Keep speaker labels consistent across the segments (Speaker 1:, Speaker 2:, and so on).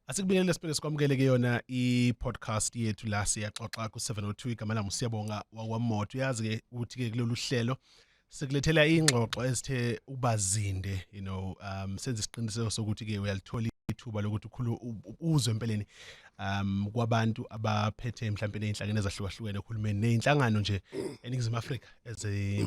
Speaker 1: Asikubingelele siphinde sikwamukele ke yona i-podcast yethu la siyaxoxa ku-702 igama lami siyabonga wakwamoto uyazi ke ukuthi ke kulolu hlelo sikulethela ingxoxo ezithe ubazinde you know um senze isiqiniseko sokuthi ke uyalithola ithuba lokuthi ukhulu uzwe empeleni um kwabantu abaphethe mhlawumbe nezinhlangene ezahlukahlukene uhulumeni nezinhlangano nje eningizimu Afrika eze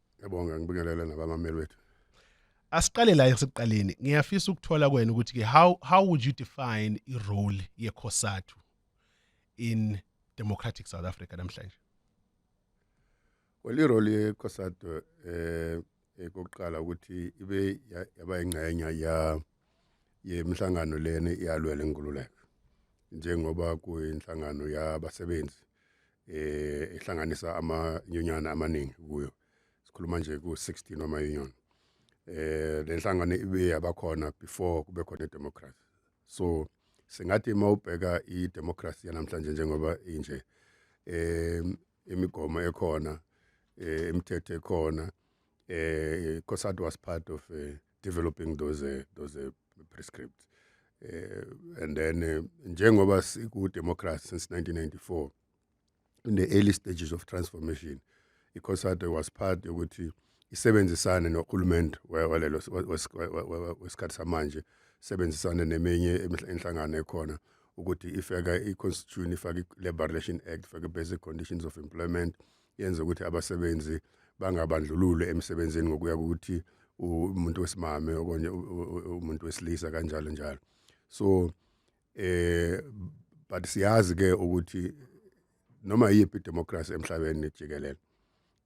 Speaker 1: Ngiyabonga ngibingelele
Speaker 2: nabamameli wethu. Asiqale
Speaker 1: la esekuqaleni. Ngiyafisa ukuthola kwena ukuthi ke how how would you define i role ye Cosatu in democratic South Africa namhlanje? Well
Speaker 2: i role ye Cosatu eh ekokuqala ukuthi ibe yaba ingxenye ya yemhlangano lena iyalwela inkululeko njengoba kuyinhlangano yabasebenzi eh ehlanganisa ama union amaningi kuyo sikhuluma nje ku 16 ama union eh lenhlangano ibe yabakhona before kube khona idemocracy so singathi uma ubheka idemocracy yanamhlanje njengoba inje eh imigomo ekhona eh imithetho ekhona eh COSATU was part of eh, developing those uh, those uh, prescripts uh, and then uh, njengoba siku democracy since 1994 in the early stages of transformation iCOSATU was part yokuthi isebenzisane nohulumende walelo wesikhathi samanje sebenzisane neminye inhlangano ekhona ukuthi ifaka i-constitution ifake i-labor relation act ifake i-basic conditions of employment yenza ukuthi abasebenzi bangabandlululi emsebenzini ngokuya ukuthi umuntu wesimame okonye umuntu wesilisa kanjalo njalo so eh but siyazi ke ukuthi noma yiphi democracy emhlabeni jikelele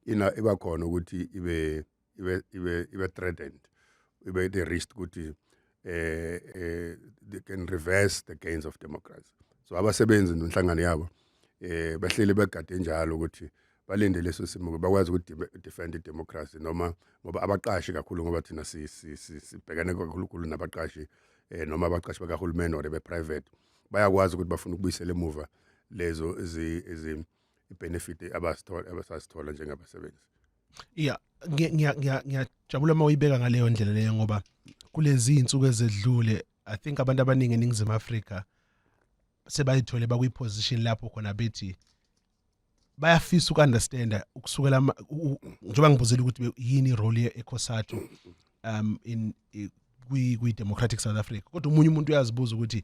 Speaker 2: ina iba khona ukuthi ibe ibe ibe ibe threatened ibe the risk ukuthi eh eh they can reverse the gains of democracy so abasebenzi nonhlangano yabo eh bahleli begade njalo ukuthi balinde leso simo bakwazi ukuthi defend democracy noma ngoba abaqashi kakhulu ngoba thina si sibhekane kakhulu kakhulu nabaqashi eh noma abaqashi bakahulumeni or be private bayakwazi ukuthi bafuna ukubuyisela emuva lezo izi benefit abasithola abasasithola njengabasebenzi
Speaker 1: yeah ngiyajabula uma uyibeka ngaleyo ndlela leyo ngoba kulezi iy'nsuku ezedlule i think abantu abaningi eningizimu afrika sebayithole bakwiposition lapho khona bethi bayafisa uku-understanda ukusukela njengoba ngibuzile ukuthi yini irole ye-ecosatu um in kwi-democratic south africa kodwa omunye umuntu uyazibuza ukuthi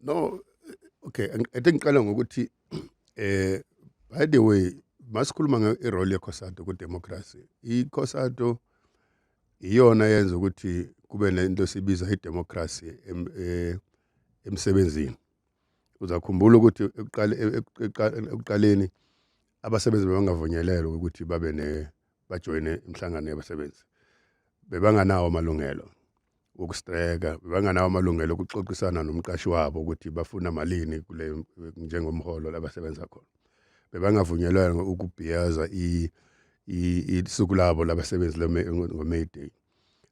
Speaker 1: no
Speaker 2: okay i think qala ngokuthi eh by the way masikhuluma nge-role yekhosado kudemocracy ikhosado iyona yenza ukuthi kube nento sibiza idemocracy eh, emsebenzini uzakhumbula ukuthi ekuqaleni abasebenzi bebangavunyelelwa ukuthi babe ne bajoyine imihlangano yabasebenzi bebanganawo amalungelo wokustreka bebanganawo amalungelo okuxoxisana nomqashi wabo ukuthi bafuna malini kule njengomholo labasebenza khona bebangavunyelwanga ukubhiyaza i isuku labo labasebenzi ngo-May Day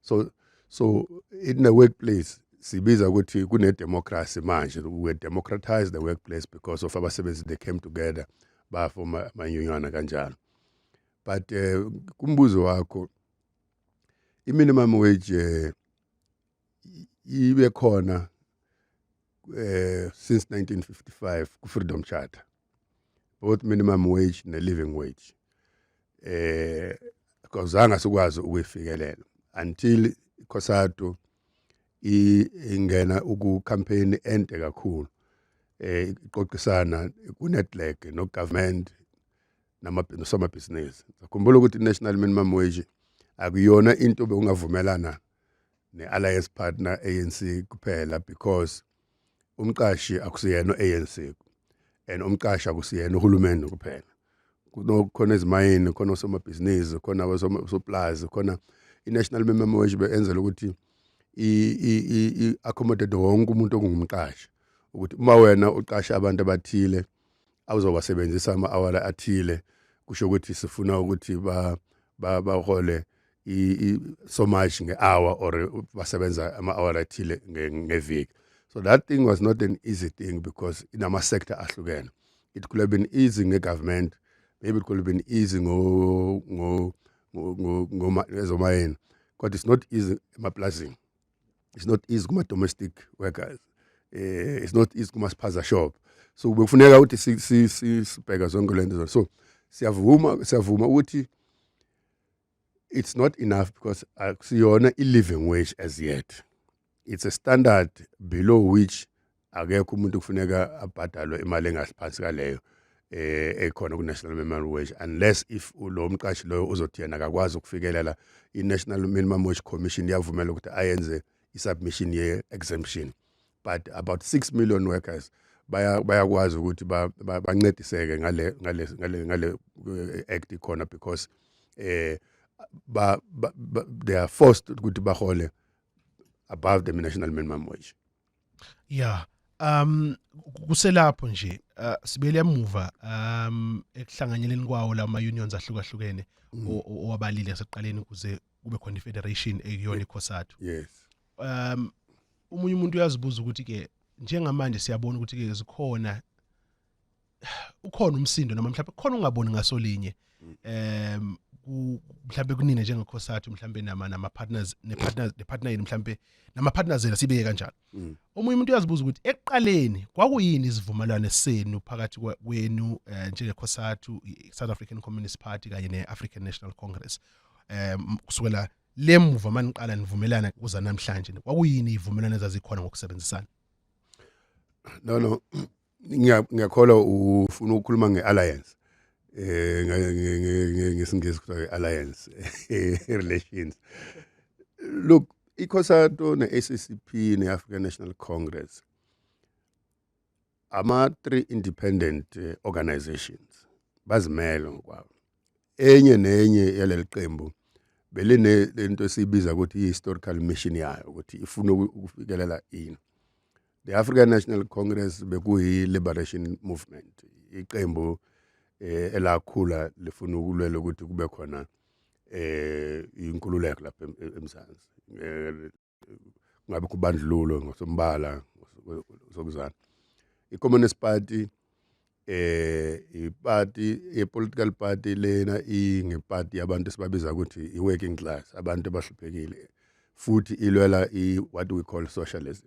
Speaker 2: so so in the workplace sibiza ukuthi kune democracy manje we democratize the workplace because of abasebenzi they came together ba forma manyunyana kanjalo but eh kumbuzo wakho i minimum wage eh, ibe khona eh since 1955 ku freedom charter both minimum wage ne living wage eh kozanga sikwazi ukuyifikelela until Cosado ingena uku campaign ente kakhulu eh iqoqisana ku network no government nosomabhizinisi sakhumbula ukuthi i-national minimum wage akuyona into bekungavumelana ne-alliance partner anc kuphela because umqashi akusiyena anc and umqashi akusiyena uhulumeni kuphela kunokhona ezimayini khona osomabhizinisi khona osoplazi khona i-national minimum wage beyenzela ukuthi i-accommodate wonke umuntu ongumqashi ukuthi uma wena uqasha abantu abathile awuzowasebenzisa ama-awala athile kusho ukuthi sifuna ukuthi ba bahole so much nge-hour or basebenza ama-hour athile ngeviki so that thing was not an easy thing because inama-sector ahlukene it could have been easy nge-government maybe it could have been easy ngomayeni kodwa it's not easy emaplazini it's not easy kuma domestic workers eh it's not easy kuma spaza shop so bekufuneka ukuthi si si si sibheka zonke lento so siyavuma siyavuma ukuthi it's not enough because akusiyona i living wage as yet it's a standard below which akekho umuntu kufuneka abhadalwe imali engaphansi kaleyo eh ekhona ku national minimum wage unless if lo mqashi loyo uzothi yena akakwazi ukufikelela i national minimum wage commission yavumela ukuthi ayenze i submission ye exemption but about 6 million workers bayakwazi ukuthi bancediseke ngale ngale ngale ngale eh, act ikhona because eh ba, ba, ba they are forced ukuthi bahole above the national minimum wage
Speaker 1: Yeah. Um kuselapho nje uh, sibele emuva um ekuhlanganyeleni kwawo la ma unions ahlukahlukene mm. owabalile yaseqaleni kuze kube khona ifederation ekuyona ikhosathu. Yes. Um umunye umuntu uyazibuza ukuthi ke njengamanje siyabona ukuthi ke zikhona ukhona umsindo noma mhlawumbe khona ungaboni ngaso linye um mhlawumbe kunina njengekhosathu mhlawumbe nama nama partners ne partners ne partner yini mhlawumbe nama partners yena sibeke kanjalo mm. omunye umuntu uyazibuza ukuthi eqaleni kwakuyini isivumelwano senu phakathi kwenu eh, njengekhosathu South African Communist Party kanye ne African National Congress um kusukela lemuva maniqala nivumelana kuza namhlanje kwakuyini ivumelwano ezazikhona ngokusebenzisana
Speaker 2: no no ngiyakholwa ufuna ukukhuluma nge-alliance eh ngesingisi kuthiwa i-alliance relations look ikhosato ne-ACCP ne-African National Congress ama three independent eh, organizations bazimele ngokwabo enye nenye yaleli qembu beline lento esibiza ukuthi i-historical mission yayo ukuthi ifuna ukufikelela ini the African National Congress bekuyi liberation movement iqembu eh, elakhula lifuna ukulwela ukuthi kube khona eh inkululeko lapha em- em- eMzansi Eh, ngabe kubandlululo ngosombala ngosokuzana i-communist party eh iparty i political party lena ingeparty yabantu sibabiza ukuthi i working class abantu abahluphekile futhi ilwela i what we call socialism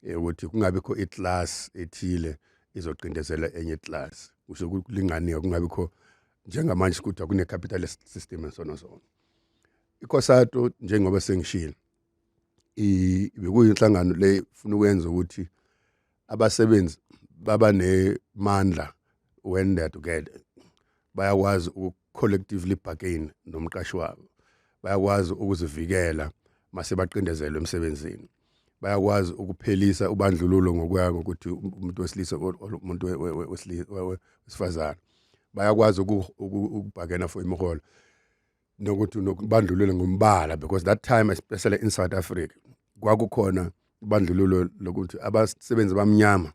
Speaker 2: eh, ukuthi kungabe kho i class ethile izoqindezela enye class kusho ukulinganiwe kungabe kho njengamanje kuthiwa kune capitalist system and so on so on ikhosato njengoba sengishilo bekuyinhlangano le funa ukwenza ukuthi abasebenzi baba nemandla when they are together bayakwazi ukucollectively bargain nomqashi wabo bayakwazi ukuzivikela mase baqindezelwe emsebenzini bayakwazi ukuphelisa ubandlululo ngokuya ngokuthi umuntu wesilisa umuntu wesifazane bayakwazi ukubhakena for imiholo nokuthi nokubandlulule ngombala because that time especially in South Africa kwakukhona ubandlululo lokuthi abasebenzi bamnyama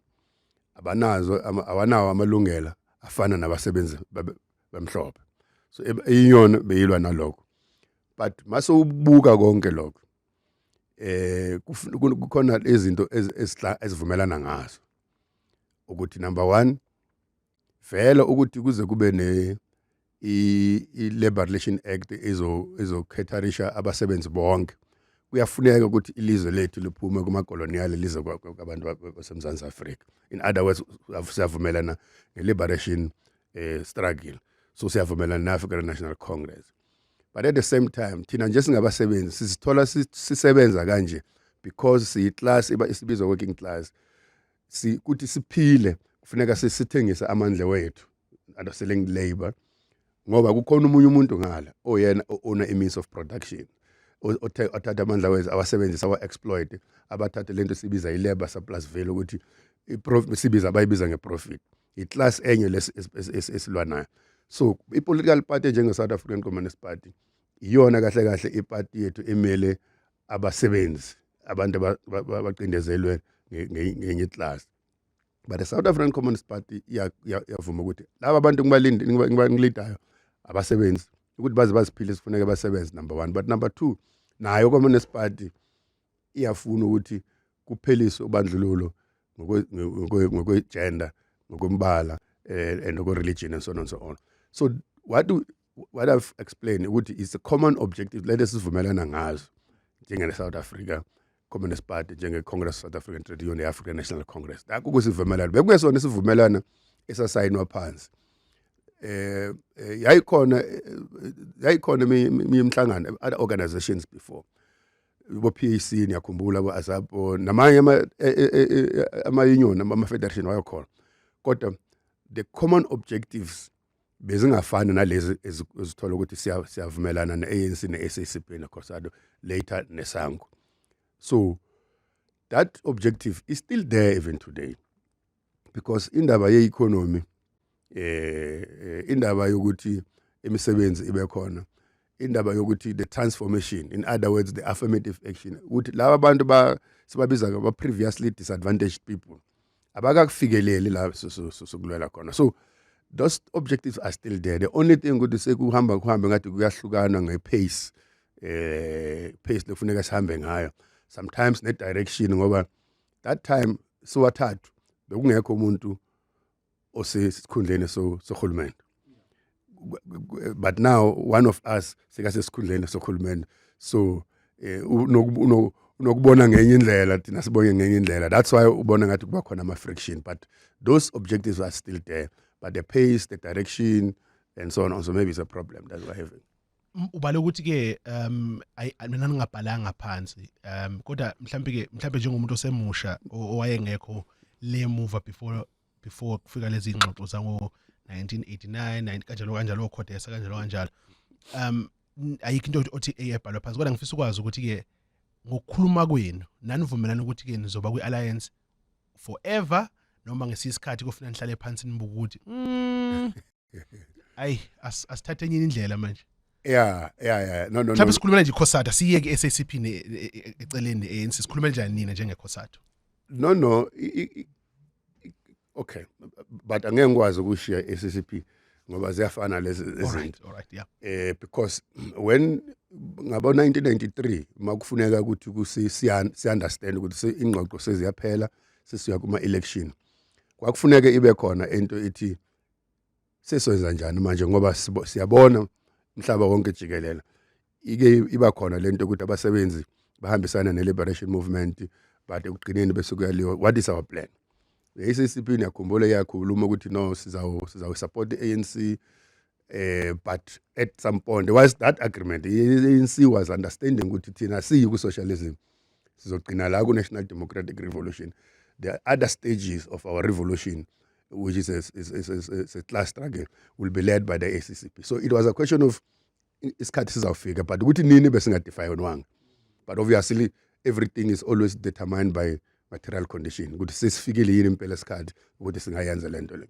Speaker 2: abanazo awanawo amalungelo afana nabasebenzi bamhlophe so iyona beyilwa nalokho but mase ubuka konke lokho eh kukhona izinto ezivumelana ngazo ukuthi number 1 vele ukuthi kuze kube ne i-Labor Relation Act izokhetharisha abasebenzi bonke kuyafuneka ukuthi ilizwe lethu liphume kumakoloniyali lize kwabantu baseMzantsi Afrika in other words siyavumelana nge-liberation eh, struggle so siyavumelana ne-African National Congress but at the same time thina nje singabasebenzi sizithola sisebenza kanje because siyi-class isibizwa working class ukuthi siphile kufuneka sithengise amandla wethu underselling labor ngoba kukhona umunye umuntu ngala oyena ona imeans of production othatha amandla wethu awasebenzisa awa-exploit abathathe lento sibiza i-labor surplus value ukuthi sibiza abayibiza nge-profit i-class enye esilwa nayo so i-political party njenge-south african communist party iyona kahle kahle ipati yethu emele abasebenzi abantu abacindezelwe ngenye iklasi but the south african communist party iyavuma ukuthi laba bantu ngibalidayo abasebenzi ukuthi baze baziphile sifuneke basebenze number one but number two nayo communist party iyafuna ukuthi kupheliswe ubandlululo ngokwe-gender ngokwembala eh, and ngokwe-religion and so on and so on so what do, what I've explained ukuthi it's a common objective lento esivumelana ngazo njengele South Africa Communist Party njenge Congress South African Trade Union ne African National Congress nakho kusivumelana bekungesona isivumelana esasayinwa phansi eh, eh yayikhona eh, yayikhona imhlangano other organizations before bo PAC niyakhumbula bo ASAPO namanye ama eh, ama union ama federation wayokhona kodwa the common objectives bezingafani nalezi ezithola ukuthi siyavumelana ne-ANC ne-SACP neCosado later neSango so that objective is still there even today because indaba ye-economy eh, eh indaba yokuthi imisebenzi ibe khona indaba yokuthi the transformation in other words the affirmative action ukuthi laba bantu ba sibabiza ba previously disadvantaged people abakakufikeleli la sokulwela khona so those objectives are still there the only thing ukuthi sekuhamba kuhambe ngathi kuyahlukana ngepace eh pace lokufuneka sihambe ngayo sometimes ne direction ngoba that time siwathathu bekungekho umuntu osesikhundleni sohulumeni but now one of us sekasesikhundleni sohulumeni so eh, unokubona ngenye indlela thina sibonye ngenye indlela that's why ubona ngathi kuba khona ama-friction but those objectives are still there but the pace the direction and so on so maybe it's a problem that we're having ubale ukuthi
Speaker 1: ke um mina ngingabhalanga phansi um kodwa mhlambe ke mhlambe njengomuntu osemusha owayengekho le move before before kufika lezi ngxoxo zango 1989 kanjalo kanjalo okhodesa kanjalo kanjalo um ayikho into othi eyebhalwa phansi kodwa ngifisa ukwazi ukuthi ke ngokukhuluma kwenu nanivumelana ukuthi ke nizoba kwi alliance forever noma ngesisikhathi kufuna nihlale phansi nibuka ukuthi mm. ayi as- asithathe enye indlela manje yeah
Speaker 2: yeah yeah no no no mhlawumbe sikhulumela nje ikhosata
Speaker 1: siyeke i-sacp ne- e- e- eceleni ne-anc sikhulumela njani nina njengekhosata no no
Speaker 2: i- i- i- i- okay but angeke ngikwazi ukushiya i-ccp ngoba ziyafana lezi izinto alright alright yeah eh
Speaker 1: because when
Speaker 2: ngabo 1993 makufuneka ukuthi kusi siyan- si understand ukuthi se- ingxoxo seziyaphela sesiya kuma election kwakufuneka ibe khona into ethi sesoyenza njani manje ngoba siyabona umhlaba wonke jikelele ike iba khona lento ukuthi abasebenzi bahambisana ne-liberation movement but ekugcineni bese kuyaliwa what is our plan i-ACCP niyakhumbula iyakhuluma ukuthi no sizawusupport i-anc um eh, but at some point was that agreement i-anc was understanding ukuthi thina siyi ku-socialism sizogcina la ku-national democratic revolution there are other stages of our revolution which is a, is, is, is, is a class struggle will be led by the accp so it was a question of isikhathi sizawufika but ukuthi nini besingadefayonwanga but obviously everything is always determined by material condition ukuthi sesifikile yini impela isikhathi ukuthi singayenza le nto le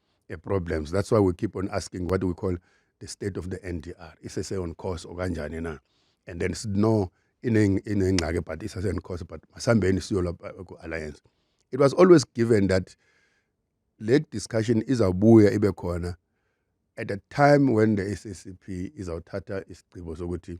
Speaker 2: a problems that's why we keep on asking what we call the state of the ndr isese on course okanjani na and then sino inengxaki but isese on course but masihambeni siyola uh, ku-alliance it was always given that le discussion izawubuya ibe khona at a time when the SACP izawuthatha isigqibo sokuthi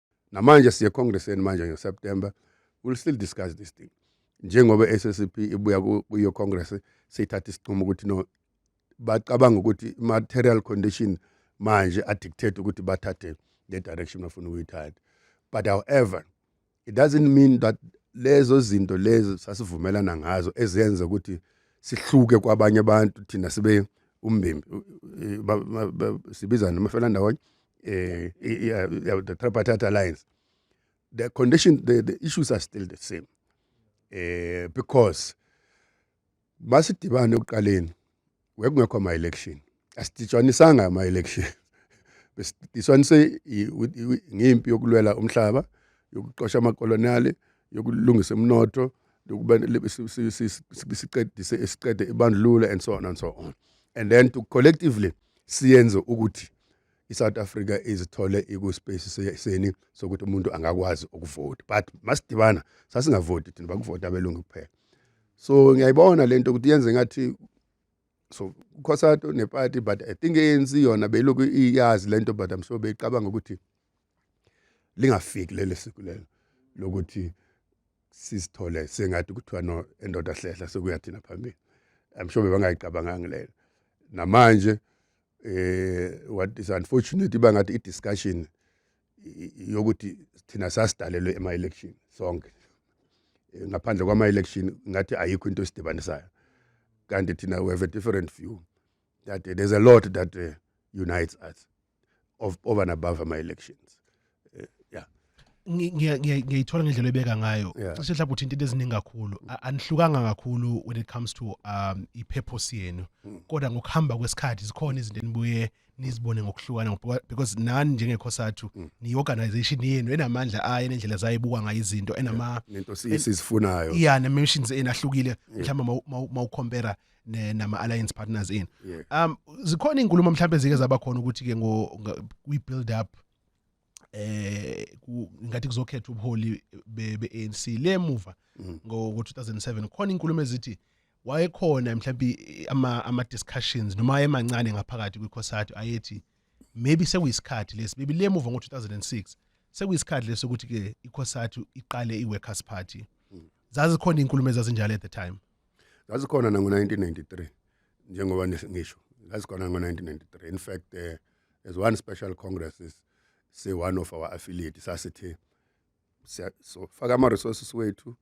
Speaker 2: namanje siye congresseni manje ngeseptember we'll still discuss this thing njengoba i-SSCP ibuya kuyo Congress seyithatha isinqumo ukuthi no bacabanga ukuthi material condition manje adictate ukuthi bathathe le direction bafuna ukuyithatha but however it doesn't mean that lezo zinto lezo sasivumelana ngazo ezenza ukuthi sihluke kwabanye abantu thina sibe umbimbi sibizana amafelandawonye uh, the tripartite alliance, the condition, the, the issues are still the same uh, because masidibane ekuqaleni wekungekho ama-election asiditshanisanga ama-election besidiswanise ngimpi yokulwela umhlaba yokuxosha amakoloniyali yokulungisa umnotho siqedise siqede ibandlululo and so on and so on and then to collectively siyenze ukuthi iSouth Africa izithole ikuspace seni sokuthi umuntu angakwazi ukuvota but masidibana sasingavoti thina bakuvota abelungu kuphela so ngiyayibona lento ukuthi yenze ngathi so ukhosato neparty but i think ANC yona beyiloku iyazi lento but i'm sure beyicabanga ukuthi lingafiki leli siku lelo lokuthi sisithole sengathi kuthiwa no endoda hlehla sekuyathina phambili i'm sure bebangayicabanganga lelo namanje eh what is unfortunate iba ngathi i discussion yokuthi thina sasidalelwe ema election sonke eh, ngaphandle kwama election ngathi ayikho into esidibanisayo kanti thina we have a different view that uh, there's a lot that uh, unites us of over and above ama elections Eh,
Speaker 1: yeah ngiyayithola ngendlela ebeka ngayo cishe mhlawumbe uthinta into eziningi kakhulu anihlukanga kakhulu when it comes to um i-purpose yenu hmm. kodwa ngokuhamba kwesikhathi zikhona izinto enibuye nizibone ngokuhlukana because nani njengekhosathu hmm. ni-organization yenu enamandla ayo enendlela zayo ebukwa ngayo izinto enamainto
Speaker 2: sizifunayo ya ne-missions enu
Speaker 1: ahlukile mhlawumbe mawukhompera nama-alliance partners enu um zikhona iy'nkulumo mhlawumbe zike zaba khona ukuthi-ke kwi-build up eh ngathi kuzokhetha ubuholi beANC lemuva mm. ngo 2007 khona inkulumo ezithi wayekhona mhlawumbe ama ama discussions noma emancane ngaphakathi kwiCosatu ayethi maybe sekuyisikhathi lesi maybe lemuva ngo 2006 sekuyisikhathi lesi ukuthi ke iCosatu iqale iWorkers Party mm. zazi khona inkulumo ezazinjalo at the time zazi khona nango
Speaker 2: 1993 njengoba ngisho zazi khona ngo 1993 in fact eh as one special congresses say one of our affiliate sasithe so faka ama resources wethu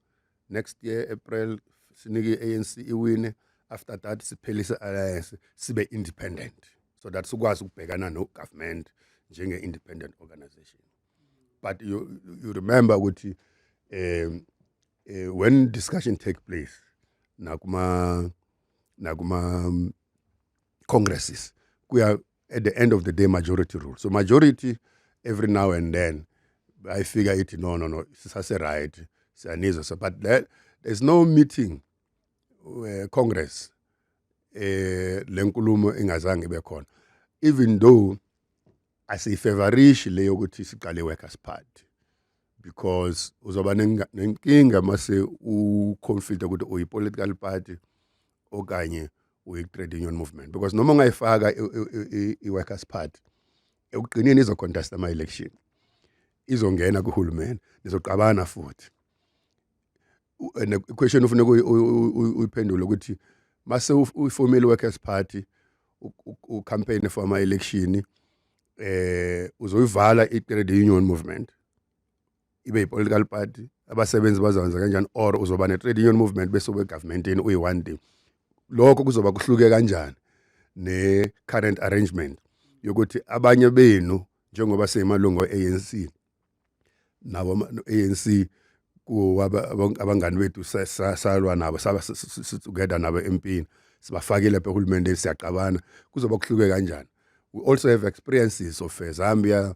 Speaker 2: next year April sinike ANC iwine after that siphelise alliance sibe independent so that sikwazi ukubhekana no government njenge independent organization but you you remember ukuthi um uh, when discussion take place nakuma nakuma congresses kuya at the end of the day majority rule so majority every now and then bayifika ithi no no no sisase right siyanizwa so but that, there's no meeting uh, congress eh lenkulumo ingazange ibe khona even though asiyifavorishi le yokuthi siqale workers party because uzoba nenkinga mase uconflict ukuthi uyi political party okanye uyi-trade union movement because noma ungayifaka i-workers party ekugqineni izocontesta ama-election izongena kuhulumeni nizoqabana futhi and the question ufuna uyiphendule ukuthi mase uyifomile workers party ucampaign for ama election eh uzoyivala i trade union movement ibe yi-political party abasebenzi bazokwenza kanjani or uzoba ne-trade union movement bese ubegavumentini uyi-one day lokho kuzoba kuhluke kanjani ne-current arrangement yokuthi abanye benu njengoba seyimalungu e-anc nabo anc abangani bethu salwa nabo saba together nabo empini sibafakile lapha ehulumendeni siyaqabana kuzoba kuhluke kanjani we also have experiences of eh, zambia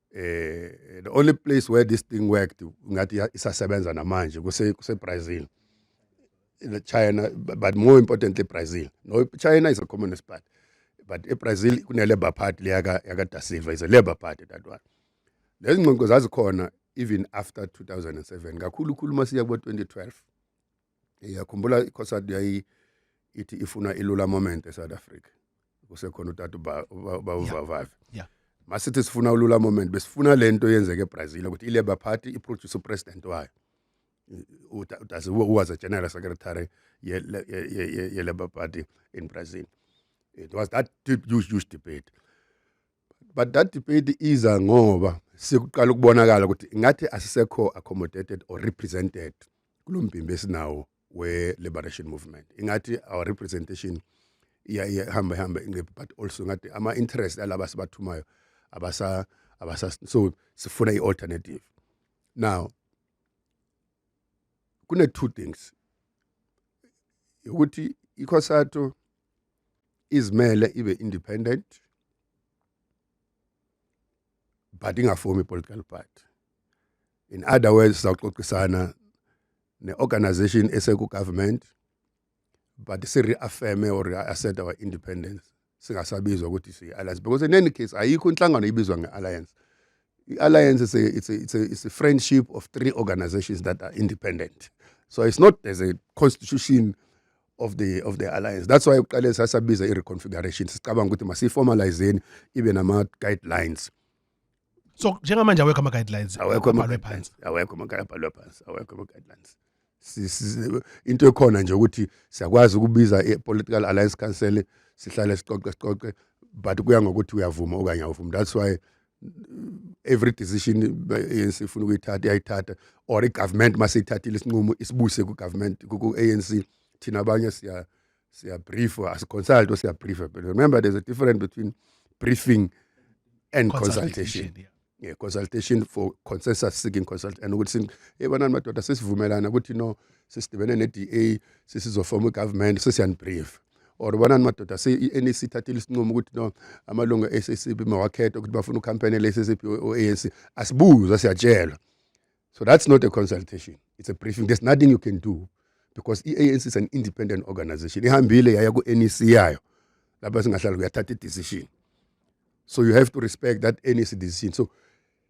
Speaker 2: eh the only place where this thing worked ngathi isasebenza namanje kuse kuse Brazil China but more importantly Brazil no China is a communist party but eBrazil kune labor party leyaka yaka Da Silva is a labor party that one lezingqoqo zazikhona even after 2007 kakhulu khulu masiya kubo 2012 iyakhumbula ikhosadi yayi ithi ifuna ilula moment eSouth Africa kusekhona utata bawuvavavi yeah
Speaker 1: masithi sifuna
Speaker 2: ulula moment besifuna lento yenzeke eBrazil ukuthi iLabour Party iproduce upresident wayo utase was a general secretary yeLabour Party in Brazil it was that huge huge debate but that debate iza ngoba sikuqala ukubonakala ukuthi ngathi asisekho accommodated or represented kulombimbi esinawo we liberation movement ingathi our representation iya ihamba ihamba ingephi but also ngathi ama interest alaba sibathumayo abasa abasa so sifuna ialternative now kune two things ukuthi iCosato izimele ibe independent but ingafomi political party in other words sawuxoxisana ne-organization esekugovernment but si-reaffirme or assert our independence singasabizwa ukuthi siyi-alliance because in any case ayikho inhlangano ibizwa nge-alliance i-alliance is a, it's a, it's a, it's a friendship of three organizations that are independent so it's not as a constitution of the of the alliance that's why uqale sasabiza i-reconfiguration sicabanga ukuthi masiyiformalizeni ibe nama-guidelines
Speaker 1: so njengamanje awekho ama-guidelines awekho ama-guidelines awekho ama-guidelines
Speaker 2: phansi awekho ama-guidelines into ekhona nje ukuthi siyakwazi ukubiza i-political alliance council sihlale siqoqe siqoqe but kuya ngokuthi uyavuma okanye awuvumi that's why every decision ANC ifuna ukuyithatha iyayithatha or igovernment maseyithathile isinqumo isibuse ku government ku ANC thina abanye siya siya brief as consult or siya brief but remember there's a difference between briefing and consultation, consultation. Yeah. Yeah, consultation for consensus seeking consult and ukuthi hey banani madoda sesivumelana ukuthi no sisidibene ne DA sesizofoma igovernment sesiyan brief or bonani madoda se i-NEC ithathile isinqumo ukuthi no amalungu e-SACP mawakhethe ukuthi bafuna ukhampani le-SACP o-ANC asibuzwa siyatshelwa so that's not a consultation it's a briefing there's nothing you can do because i-ANC is an independent organization ihambile yaya ku-NEC yayo lapha singahlala kuyathatha i-decision so you have to respect that NEC decision so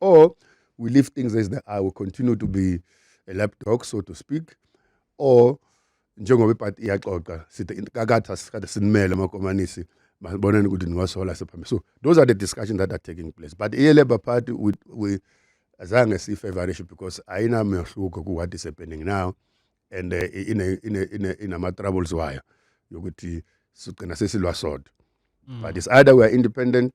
Speaker 2: or we leave things as they are we continue to be a lapdog so to speak or njengoba ipati iyaxoxa sithi kakatha sikade sinimele amakomanisi masiboneni ukuthi niwasola sephambili so those are the discussions that are taking place but i-labour party we, we azange siyifavorish because ayinamehluko ku-what is happening now and uh, inama-troubles wayo yokuthi sigcina sesilwa sodwa mm. but it's either we are independent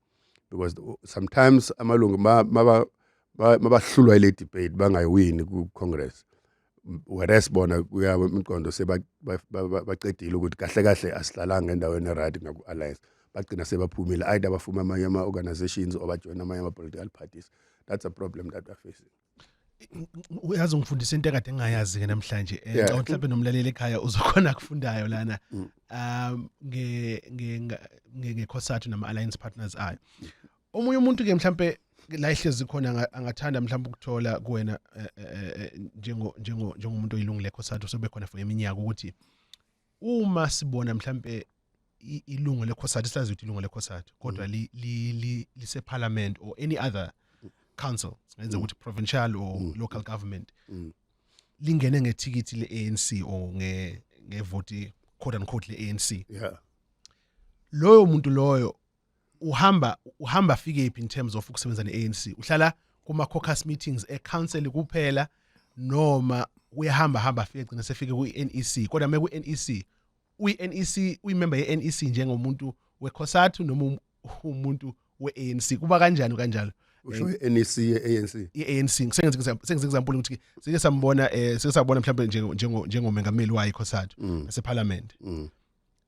Speaker 2: because sometimes amalungu mabahlulwa ile debate bangayiwini ku-congress whereas bona kuya imiqondo sebaqedile ukuthi kahle kahle asihlalanga endaweni eright ngaku-alliance bagcina sebaphumile either bafuma amanye ama-organizations or bajoyina amanye ama-political parties that's a problem that we're facing
Speaker 1: uyazi ungifundisa into ekade ngingayazi ke namhlanje eh, ngicabanga yeah. mhlawumbe nomlaleli ekhaya uzokhona kufundayo lana mm. um nge nge ngekhosathu nama alliance partners ayo omunye umuntu ke mhlambe la ihlezi khona angathanda mhlawumbe ukuthola kuwena eh, eh, njengo njengo njengomuntu oyilungile khosathu sobe khona for iminyaka ukuthi uma sibona mhlambe ilungu lekhosati sazi ukuthi ilungu lekhosati kodwa mm. li li lise parliament or any other council senze mm. ukuthi provincial or mm. local government lingene ngethikithi leANC or nge ngevoti quote unquote leANC yeah loyo muntu loyo uhamba uhamba fike phi in terms of ukusebenza ne-ANC uhlala kuma caucus meetings e council kuphela noma uyahamba hamba afike gcina sefike ku NEC kodwa meku NEC uyi NEC uyi member ye NEC njengomuntu we COSATU noma um, umuntu we ANC kuba kanjani kanjalo usho eh,
Speaker 2: NEC ye ANC ye ANC sengenze
Speaker 1: sengenze example ukuthi sike sambona eh sike sabona mhlawumbe njengo njengomengameli wayo COSATU mm. nase parliament mm.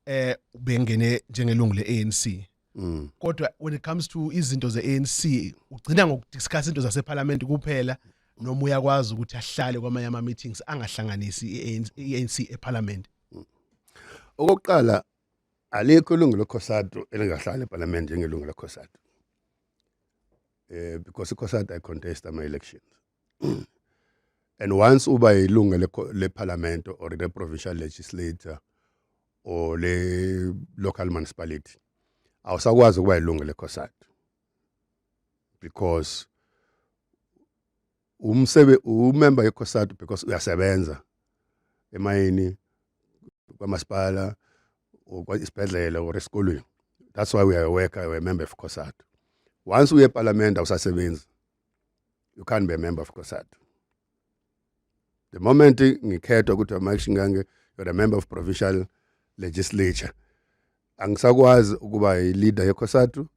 Speaker 1: eh ubengene njengelungu leANC Mm. kodwa when it comes to izinto zeANC ugcina ngokudiscuss into zaseParliament kuphela noma uyakwazi ukuthi ahlale kwamanye ama meetings angahlanganisi iANC iANC eParliament
Speaker 2: Okokuqala alikho ilungu leCOSATU elingahlala eParliament njengelungu leCOSATU. Eh because iCOSATU ay contest ama elections. and once uba yilunga lephalamende or le-provincial legislator or le-local municipality awusakwazi ukuba yilunga lekhosadi because umsebe umemba yekhosadi because uyasebenza emayini kwamasipala or isibhedlela or esikolweni that's why we are a worker we are a member of khosadi once uye epalamende awusasebenzi you can't be a member of COSATU the moment ngikhethwa ukuthi amaction kange you're a member of provincial legislature angisakwazi ukuba yi-leader yeCOSATU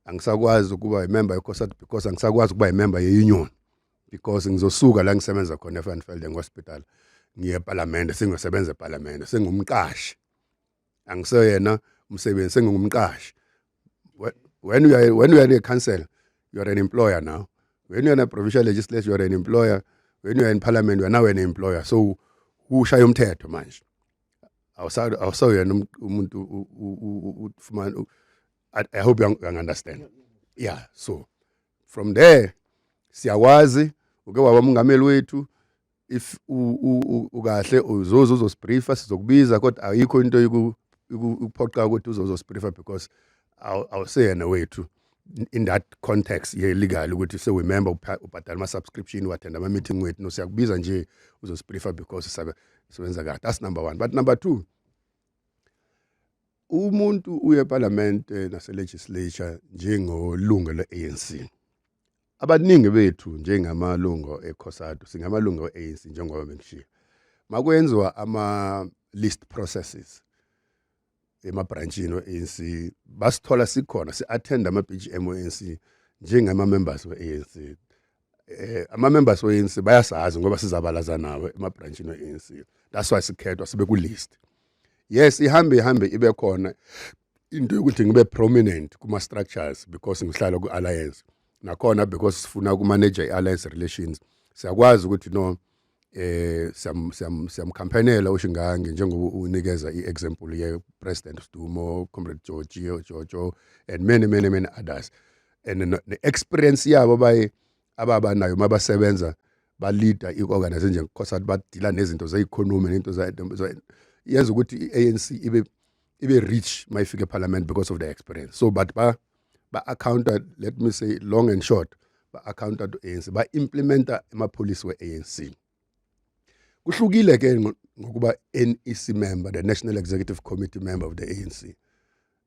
Speaker 2: angisakwazi ukuba yimemba yeCOSATU because angisakwazi ukuba yimemba ye-union because ngizosuka la ngisebenza khona eFanfelden Hospital ngiye eParliament sengiyosebenza eParliament sengumqashi angiseyena umsebenzi sengingumqashi when you are when you are a council you are an employer now when you are a provincial legislature you are an employer when you are in parliament you are now an employer so ushaya umthetho manje awusawuyena um, umuntu ufumana i hope you understand yeah so from there siyakwazi uke waba umungameli wethu if ukahle uzoze uzosibriefa sizokubiza kodwa ayikho into ikuphoqa ukuthi uzoze uzosibriefa because awuseyena wethu in that context ye-legal ukuthi sewumember ubhadala ama-subscription uwathenda ama-meeting wethu no siyakubiza nje uzosibriefa because sebenza kahle that's number one but number two umuntu uye epalamente naselegislature njengolunga le-anc Abaningi bethu njengamalungo eCOSATU singamalungo e-ANC njengoba bengishiya. Makwenziwa ama list processes emabranchini we-ANC basithola sikhona si-attend ama-BGM we-ANC njengama-members we-ANC um eh, ama-members we-ANC bayasazi ngoba sizabalaza nawo emabranchini we-ANC that's why sikhethwa sibe ku-list yes ihambe ihambe ibe khona into yokuthi ngibe prominent kuma structures because ngihlala ku alliance nakhona because sifuna ku manage i alliance relations siyakwazi ukuthi no eh siyam siyam siyamkhampanela ushingange njengoba unikeza iexample ye president Stumo comrade George Jojo and many many many others and the experience yabo baye ababa nayo uma basebenza balida i-organization nje nkosathi badila nezinto ze-economy nento yenza ukuthi i-anc ibe ibe rich uma ifika ephalamende because of the experience so but ba ba-accounta let me say long and short ba-accounta to anc ba-implementa amapholisi we-anc kuhlukile ke ngokuba NEC member the National Executive Committee member of the ANC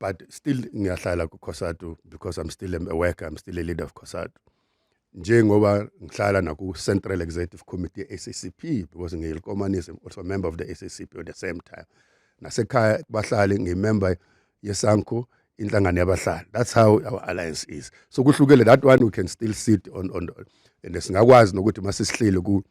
Speaker 2: but still ngiyahlala ku Cosatu because I'm still a worker I'm still a leader of Cosatu njengoba ngihlala naku Central Executive Committee SACP because ngiyilkomanisi I'm also a member of the SACP at the same time nasekhaya kubahlali ngimember yesanko inhlangano yabahlali that's how our alliance is so kuhlukele that one we can still sit on on and singakwazi nokuthi masisihlile ku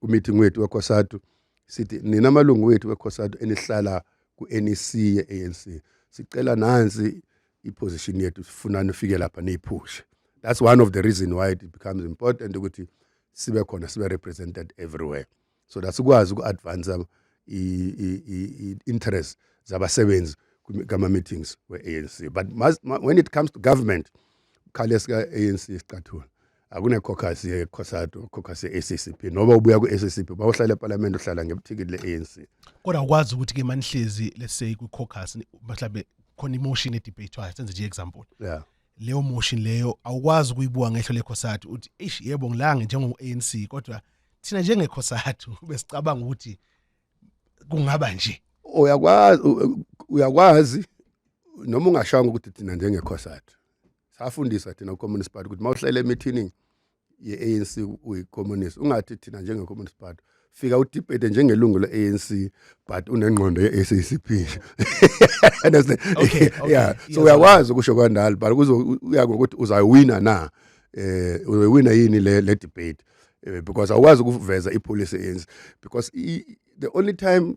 Speaker 2: ku meeting wethu wekhosatu sithi nina malungu wethu wekhosatu enihlala ku-NEC ye-ANC sicela nansi iposition yethu sifuna nifike lapha niyiphushe that's one of the reason why it becomes important ukuthi sibe khona sibe represented everywhere so that sikwazi uku-advance i-interest zabasebenzi kama-meetings we-anc but must, when it comes to government khale sika-anc sicathula akunekhokasi yekhosado khokasi ye-accp noba ubuya kwi-accp uba uhlala epalamende uhlala ngebuthikili le-anc kodwa ukwazi ukuthi
Speaker 1: ke manihlezi let's say kwikhokasi mhlawumbe khona imotion edebate-wayo senze nje i-example yeah leyo
Speaker 2: motion
Speaker 1: leyo awukwazi ukuyibuka ngehlo lekhosathu uthi eish yebo ngilange njengo-anc kodwa thina njengekhosathu besicabanga ukuthi kungaba nje uyakwazi uyakwazi
Speaker 2: noma ungashanga ukuthi thina njengekhosathu safundiswa thina ku-communist party ukuthi uma uhlele emithining ye-anc uyi-communist ungathi thina njenge-communist party fika udebate njengelungu le-anc but unengqondo ye-sacp okay, okay.
Speaker 1: yeah so uyakwazi
Speaker 2: ukusho kwandalo but kuzoya ngokuthi uzawuwina na eh uzoyiwina yini le le debate eh, because awukwazi ukuveza ipolicy yenzi because the only time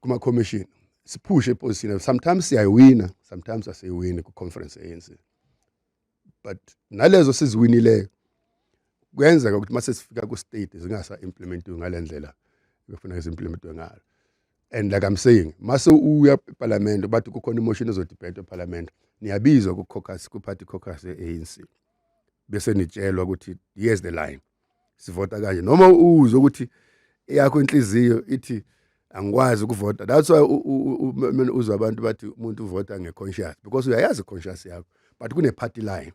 Speaker 2: kuma commission siphushe iposition sometimes siyayiwina sometimes asiyiwini ku conference ANC but nalezo siziwinileyo kuyenzeka ukuthi mase sifika ku state zingasa implementiwe ngalendlela befuna izimplementwe ngalo and like i'm saying mase uya eparliament bathi kukhona imotion ezodebate eparliament niyabizwa ku caucus ku party caucus ye ANC bese nitshelwa ukuthi here's the line sivota kanje noma uzwe ukuthi yakho inhliziyo ithi angikwazi ukuvota that's why mina uzwa abantu bathi umuntu uvota ngeconscious because uyayazi conscious yakho but kune party line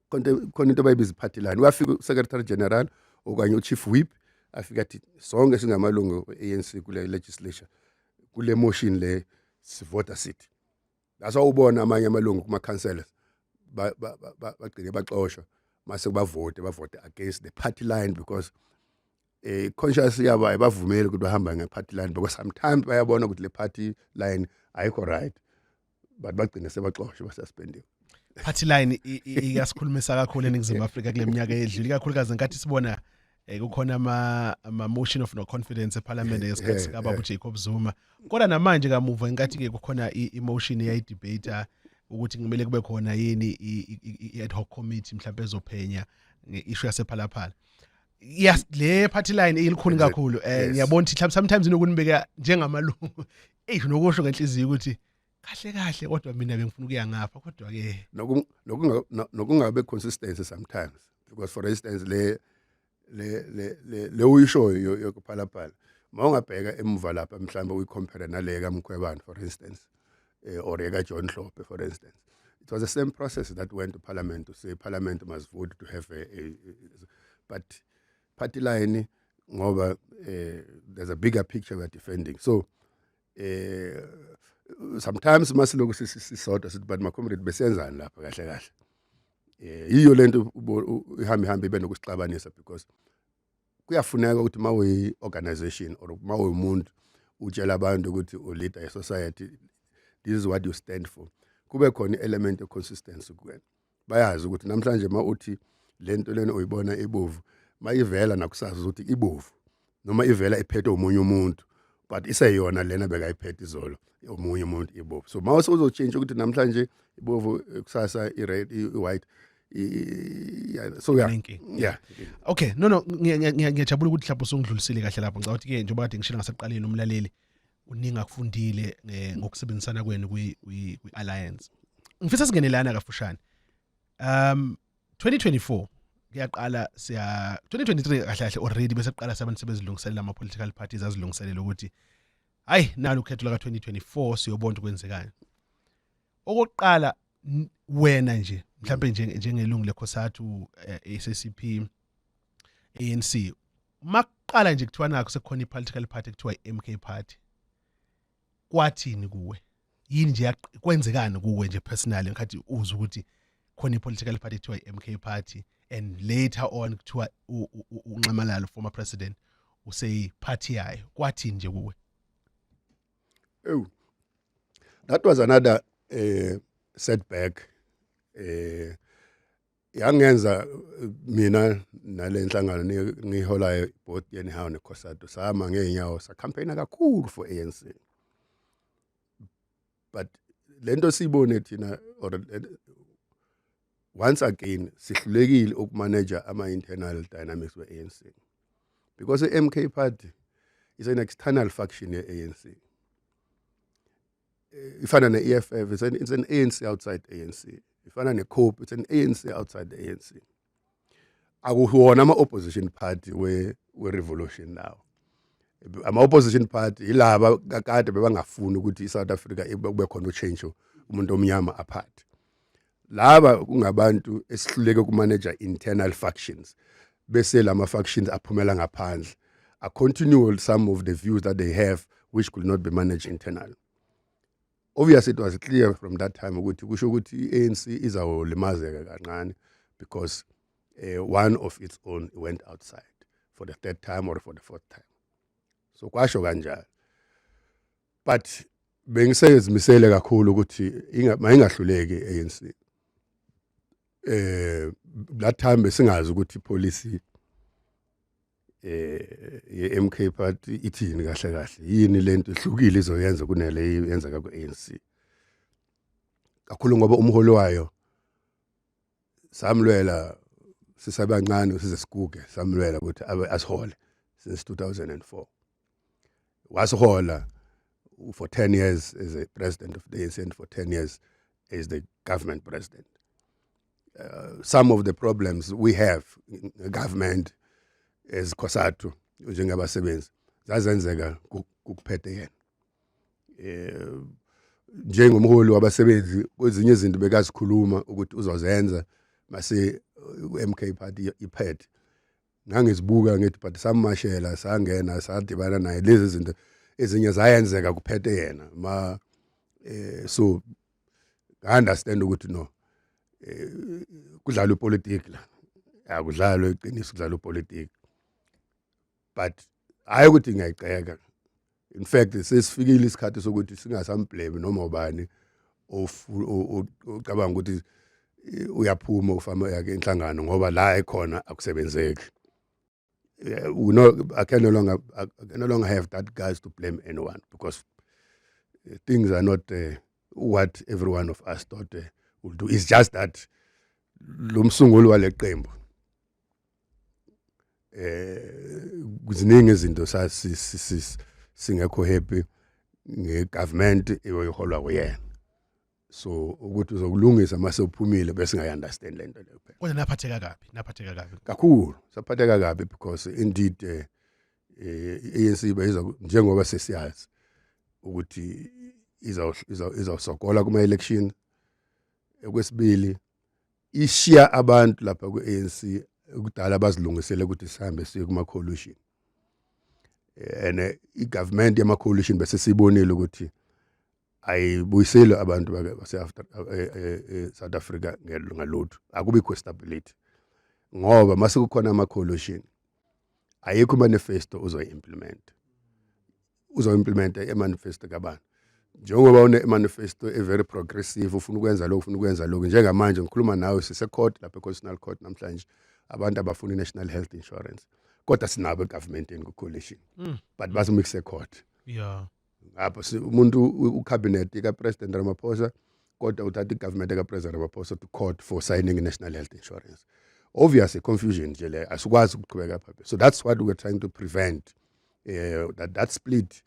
Speaker 2: konke khona into bayibiza party line uyafika secretary general okanye uchief whip afika athi sonke singamalungu ANC kule legislature kule motion le sivota sithi that's why ubona amanye amalungu kuma councillors bagcine baxoshwa mase kubavote bavote against the party line because eh conscious yabo ayibavumeli ukuthi bahamba nge party line because sometimes bayabona ukuthi le party line ayikho right but bagcine sebaxoshwe basuspendiwe party
Speaker 1: line iyasikhulumisa kakhulu eningizimu Afrika kuleminyaka edlule ikakhulukazi nkathi sibona eh kukhona ama ama motion of no confidence eParliament eh, ngesikhathi eh, sika Baba eh. Jacob Zuma kodwa namanje kamuva inkathi ke kukhona emotion eyayi debate ukuthi kumele kube khona yini i ad hoc committee mhlawumbe ezophenya ngeishu yasephalaphala yes le party line ilikhuni kakhulu eh ngiyabona ukuthi sometimes inokunibeka njengamalungu eyi nokusho ngenhliziyo ukuthi kahle kahle kodwa mina bengifuna ukuya ngapha kodwa ke
Speaker 2: nokungabe consistency sometimes because for instance le le le le uyishoyo yokuphalaphala mawungabheka emuva lapha mhlawumbe uyicompare nale kaMkhwebane for instance eh, or eka John Hlope for instance it was the same process that went to parliament to say parliament must vote to have a, a, a but party line ngoba eh, there's a bigger picture we're defending so eh sometimes masiloku sisodwa sithi bantu macomrade besenzani lapha kahle kahle eh yiyo lento ihambe hambe ibe nokusixabanisa because kuyafuneka ukuthi mawuyi organization or mawuyi umuntu utshela abantu ukuthi u leader ye society this is what you stand for kube khona element of consistency kuwena bayazi ukuthi namhlanje uma uthi le nto lena uyibona ibovu mayivela nakusasa ukuthi ibovu noma ivela iphethe omunye umuntu but iseyona lena bekayiphethe izolo omunye umuntu ibovu so mawase uzotshintsha ukuthi namhlanje ibovu kusasa i-red i-white so yeah yeah okay no no
Speaker 1: ngiyajabula ukuthi mhlawumbe usungidlulisile kahle lapho ngicabanga ukuthi ke njengoba kade ngishilo ngasekuqaleni umlaleli kuningi akufundile eh, ngokusebenzisana kwenu kwi-alliance ngifisa singenelana kafushane um 2024 kuyaqala siya 2023 kahle kahle already bese kuqala sabantu sebezilungiselela ama political parties azilungiselela ukuthi hayi nalo ukhetho laka 2024 siyobona ukwenzekani okokuqala wena nje mhlawumbe njengelungu lekhosathu eh, ACCP ANC makuqala nje kuthiwa nakho sekukhona i-political party kuthiwa i-MK party kwathini kuwe yini nje kwenzekani kuwe nje personally ngikhathi uzwa ukuthi khona i-political party kuthiwa i-MK party and later on kuthiwa unxamalalo former president useyiphathi yayo kwathini nje kuwe
Speaker 2: ewu that was another uh, setback uh, yangenza eh, mina nale nhlangano ni- ngiyiholayo both anyhow neCOSATU sama ngeenyawo sa campaign kakhulu for ANC but lento siyibone thina or eh, once again sihlulekile ukumanager ama internal dynamics we ANC because iMK party is an external faction ye ANC ifana ne-EFF it's an, it's an ANC outside ANC ifana ne-COPE it's an ANC outside the ANC akuwona ama-opposition party we-revolution we now ama-opposition party yilaba kakade bebangafuni ukuthi i-south africa kube khona utshentsho umuntu omnyama aphathe laba kungabantu esihluleke ukumaneja internal factions bese lama factions aphumela ngaphandle a continue some of the views that they have which could not be managed internally obviously it was clear from that time ukuthi kusho ukuthi iANC izawulimazeka kancane because uh, one of its own went outside for the third time or for the fourth time so kwasho kanjalo but bengisezimisele kakhulu ukuthi mayingahluleki ANC eh that time besingazi ukuthi policy eh yeMK party ithini kahle kahle yini lento ehlukile izoyenza kunale yenzeka kuANC kakhulu ngoba umholi wayo samlwela sisabancane size siguge samlwela ukuthi asihole since 2004 wasihola for 10 years as a president of the ANC and for 10 years as the government president uh, some of the problems we have in the government as Kosatu njengabasebenzi zazenzeka kuphethe yena eh njengomholi wabasebenzi kwezinye izinto bekazikhuluma ukuthi uzozenza mase MK party iphethe ngangizibuka ngithi but samashela sangena sadibana naye lezi zinto ezinye zayenzeka kuphethe yena ma eh so i understand ukuthi no eh, kudlala upolitiki la akudlalwe iqiniso kudlala upolitiki but hayi ukuthi ngiyayiceka in fact sesifikile isikhathi sokuthi singasamblame noma ubani ocabanga ukuthi eh, uyaphuma ufama yakhe inhlangano ngoba la ekhona akusebenzeki eh, we know I can no longer I can no longer have that guys to blame anyone because eh, things are not uh, what every one of us thought uh, will do it's just that lo msunguli waleqembu eh kuziningi izinto sasi singekho happy ngegovernment eyoyiholwa kuyena so ukuthi uzokulungisa mase uphumile bese ngayi understand lento leyo phela kodwa naphatheka kabi
Speaker 1: naphatheka kabi kakhulu
Speaker 2: saphatheka kabi because indeed eh, eh ANC bayiza njengoba sesiyazi ukuthi iza iza izasogola kuma election ekwesibili ishiya abantu lapha ku-ANC kudala bazilungisele ukuthi sihambe siye kuma coalition and eh, i government yama coalition bese sibonile ukuthi ayibuyiseli abantu base after eh, eh, eh, South Africa ngalutho akubikho stability ngoba mase kukhona ama coalition ayikho manifesto uzoyimplement uzoimplementa emanifesto kabantu njengoba une manifesto e very progressive ufuna ukwenza lokho ufuna ukwenza lokho njengamanje ngikhuluma nawe sise court lapha econstitutional court namhlanje abantu abafuna national health insurance kodwa sinabo egovernment ku coalition mm. but bathi mixe court yeah
Speaker 1: ngapha
Speaker 2: umuntu u cabinet ka president Ramaphosa kodwa uthatha igovernment ka president Ramaphosa to court for signing national health insurance obviously confusion nje le asikwazi ukuqhubeka phaphe so that's what we're trying to prevent eh that, that split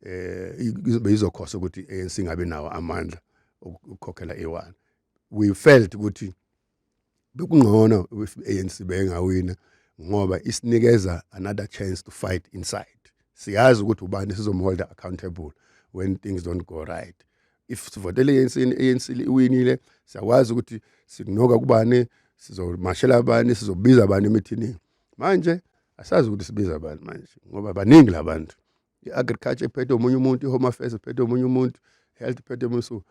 Speaker 2: eh izobe izokhosa ukuthi ANC ngabe nawo amandla ukukhokhela e1 we felt ukuthi bekungcono if ANC bengawina ngoba isinikeza another chance to fight inside siyazi ukuthi ubani sizomholda accountable when things don't go right if sivotele ANC ANC iwinile siyakwazi ukuthi sikunoka kubani sizomashela abani sizobiza abani emithini manje asazi ukuthi sibiza bani manje ngoba baningi labantu i-agriculture iphethe omunye umuntu i-home affairs iphethe omunye umuntu health iphethe omunye so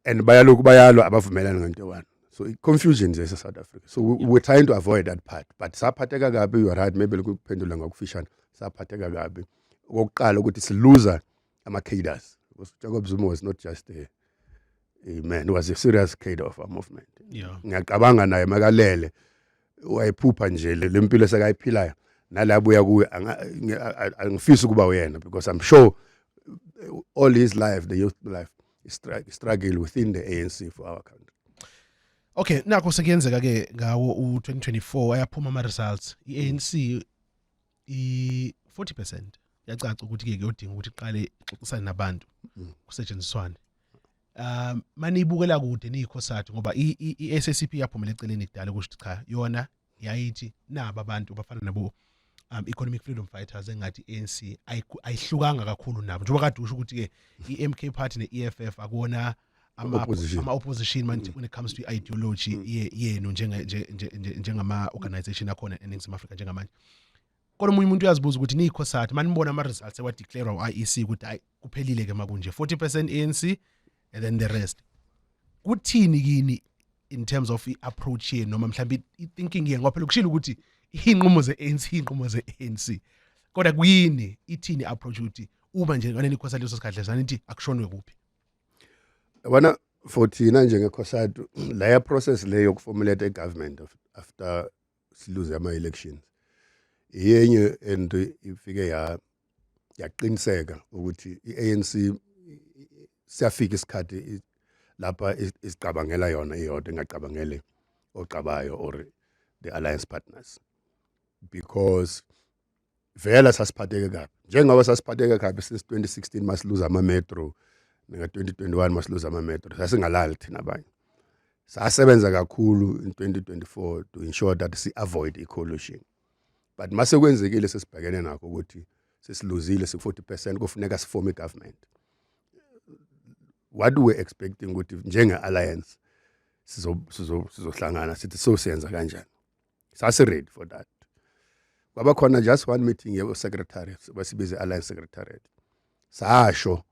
Speaker 2: and bayalokhu bayalwa abavumelani ngento one so i-confusion zese south africa so we, we're trying to avoid that part but saphatheka kabi you're right maybe lokuphendula ngokufishane saphatheka kabi okokuqala ukuthi siluza ama cadres because Jacob Zuma was not just a a man was a serious cadre of our movement yeah ngiyacabanga
Speaker 1: naye
Speaker 2: makalele wayephupha nje lempilo sekayiphilayo nalabuya kuwe angifisi ukuba uyena because i'm sure all his life the youth life is struggle within the ANC for our country Okay
Speaker 1: nakho sekuyenzeka ke ngawo u2024 ayaphuma ama results iANC i 40% yacaca ukuthi ke kuyodinga ukuthi iqale ixoxisane nabantu mm. kusetshenziswane um maniyibukela kude niyikhosathu ngoba i-SACP yaphumela eceleni kudala ukuthi cha yona yayithi naba abantu bafana nabo um economic freedom fighters engathi ANC ayihlukanga kakhulu nabo njengoba kade usho ukuthi ke iMK party neEFF akuona ama Opposition. ama opposition manje when it comes to ideology ye- yenu njenge- nje- nje- nje- njengama organization akhona eNingizimu Afrika njengamanje kodwa omunye umuntu uyazibuza ukuthi nikho sathi manibona ama results ewa declare uIEC ukuthi hayi kuphelile ke makunje 40% ANC and then the rest kuthini kini in terms of i-approach yenu noma mhlawumbe i-thinking yenu ngoba phela kushilo ukuthi iy'nqumo ze-anc iy'nqumo ze-anc kodwa kuyini ithini i-approach ukuthi uma nje ngane nikhosa leso sikhathi lesana nithi akushonwe kuphi
Speaker 2: yabona for thina njengekhosadi laya process le yokuformulate i-government after siluze ama-elections iyenye and ifike ya yaqiniseka ukuthi i-ANC siyafika isikhathi lapha isicabangela yona iyodwa ingacabangele ocabayo or the alliance partners because vela sasiphatheke kabi njengoba sasiphatheke kabi since 2016 masiluza ama metro nika 2021 masiluza ama metro sasingalali thina abanye sasebenza kakhulu in 2024 to ensure that si avoid i collusion but mase kwenzekile sesibhekene nakho ukuthi sesiluzile si 40% kufuneka sifome i government what we expecting ukuthi njenge alliance sizohlangana sithi so siyenza kanjani sasiready for that kwaba khona just one meeting yesecretary basibize alliance secretariat sasho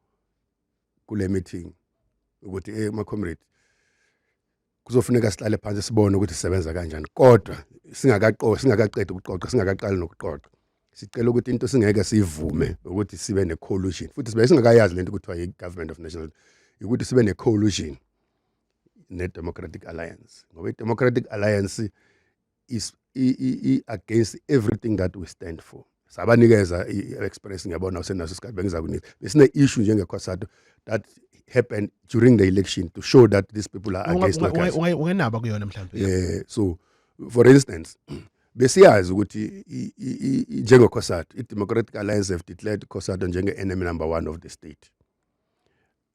Speaker 2: kule meeting ukuthi eh ma comrade kuzofuneka sihlale phansi sibone ukuthi sisebenza kanjani kodwa singakaqoqa singakaqedi ukuqoqa singakaqali nokuqoqa sicela ukuthi into singeke sivume ukuthi sibe ne collusion futhi sibe singakayazi lento ukuthi yi government of national ukuthi sibe ne collusion ne-democratic alliance ngoba i-democratic alliance is i-against everything that we stand for sabanikeza i-express ngiyabona usenaso isikhathi bengiza kunika besine-issue njengekhosato that happened during the election to show that these people are against ungenaba kuyona mhlawumbe
Speaker 1: yeah so
Speaker 2: for instance besiyazi ukuthi njengekhosato i-democratic alliance have declared ikhosato njenge-enemy number one of the state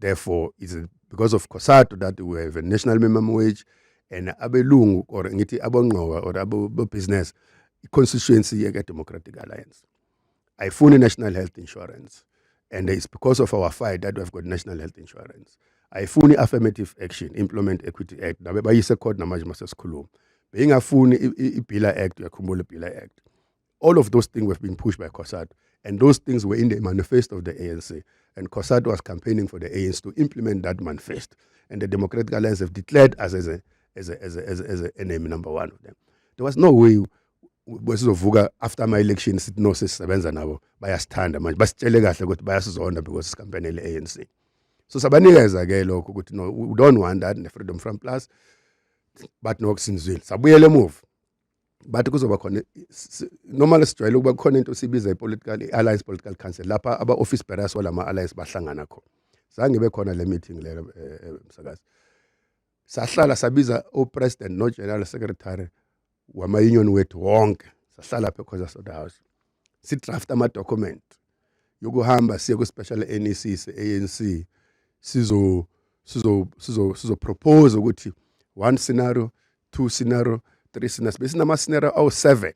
Speaker 2: therefore is it because of cosatu that we have a national minimum wage and abelungu or ngithi abongqoka or abobusiness i-constituency yeka-democratic alliance ayifuni national health insurance and it's because of our fight that we've got national health insurance ayifuni affirmative action implement equity act nabe bayise court namanje masesikhuluma beyingafuni ibhila act uyakhumbula ibhila act All of those things were being pushed by COSATU. And those things were in the manifesto of the ANC. And COSATU was campaigning for the ANC to implement that manifesto. And the Democratic Alliance have declared us as, a, as, a, as, a, as, a, as an enemy number one of them. There was no way besizovuka after my election sithi no sesisebenza nabo bayasithanda manje basitshele kahle ukuthi bayasizonda because sikampanele ANC so sabanikeza ke lokho ukuthi no we don't want that ne freedom from plus but no sinizwile sabuyela emuva bathi kuzoba khona noma lesijwayele ukuba kukhona into sibiza ipolitical alliance political council lapha aba office bearers walama alliance bahlangana khona zange bekhona le meeting le eh, eh, msakazi sahlala sabiza u president no general secretary wama union wethu wonke sahlala phe khoza soda house si draft ama document yokuhamba siye ku special NEC se ANC sizo sizo sizo sizo propose ukuthi one scenario two scenario three scenarios besinama scenario awu seven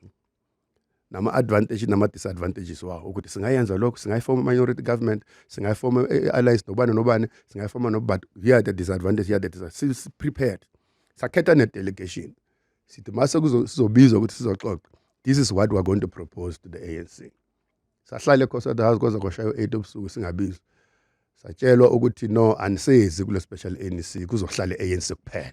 Speaker 2: nama advantage nama disadvantages wawo ukuthi singayenza lokho singayifoma minority government singayifoma eh, eh, alliance nobani nobani singayifoma no but here are the disadvantages here are the disadvantages si prepared sakhetha ne delegation sithi mase kuzobizwa ukuthi sizoxoxa this is what we are going to propose to the ANC sahlale ekhosada house kwaze kwashaya 8 obusuku singabizwa satshelwa ukuthi no anisezi kule special ANC kuzohlala ANC kuphela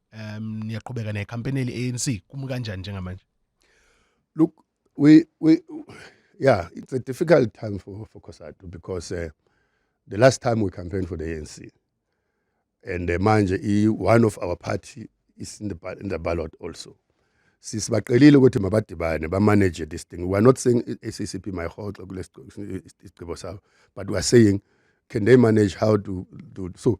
Speaker 1: um niyaqhubeka necampaign eli ANC kumi kanjani njengamanje look
Speaker 2: we we yeah it's a difficult time for for Cosatu because uh, the last time we campaigned for the ANC and uh, manje i one of our party is in the in the ballot also sisibaqelile ukuthi mabadibane bamanage this thing we are not saying ACCP mayihoxe kulesisigqibo sabo but we are saying can they manage how to do so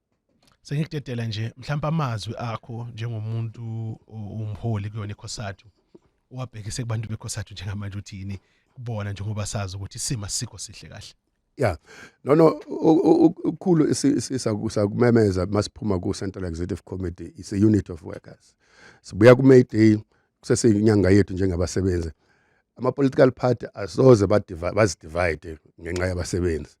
Speaker 1: sengikutetela nje mhlawumbe amazwi akho njengomuntu umholi kuyona ikhosathu wabhekise kubantu bekhosathu njengamanje ukuthi yini kubona njengoba sazi ukuthi isimo sikho sihle kahle ya
Speaker 2: no no ukukhulu sisakumemeza masiphuma ku Central Executive Committee is a unit of workers sibuya ku May Day kuseseyinyanga yethu njengabasebenzi ama-political party asoze bazidivide ngenxa yabasebenzi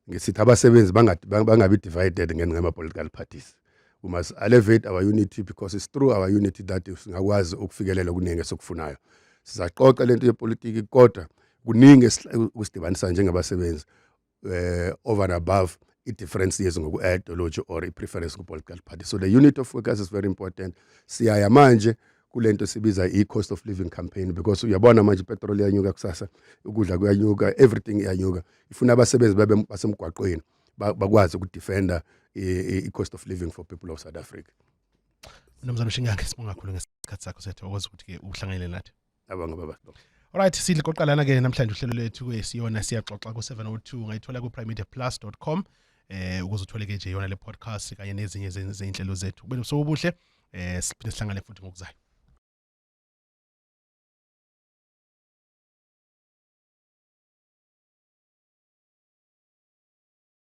Speaker 2: ngisithi abasebenzi bangabi divided ngenxa yama-political parties we must elevate our unity because it's through our unity that singakwazi ukufikelela okuningi esikufunayo sizaxoxa lento yepolitiki kodwa kuningi kusidibanisa njengabasebenzi uh, over and above i-difference yezi ngoku-ideology or i-preference ku-political party so the unit of focus is very important siyaya manje kule nto sibiza i-cost of living campaign because uyabona manje ipetrol iyanyuka kusasa ukudla kuyanyuka everything iyanyuka ifuna abasebenzi babe basemgwaqweni bakwazi ukudefenda i-cost of living for people of south africa mnumzane
Speaker 1: ushingange sibonga kakhulu ngesikhathi sakho sethu okwazi ukuthi-ke uhlanganyele nathi abanga baba
Speaker 2: Alright sidle
Speaker 1: qoqalana ke namhlanje uhlelo lethu kwesiyona siyaxoxa ku 702 ngayithola ku primemedia.plus.com eh ukuze uthole ke nje yona le podcast kanye nezinye zezinhlelo zethu kube nobusuku obuhle eh siphinde sihlangane futhi ngokuzayo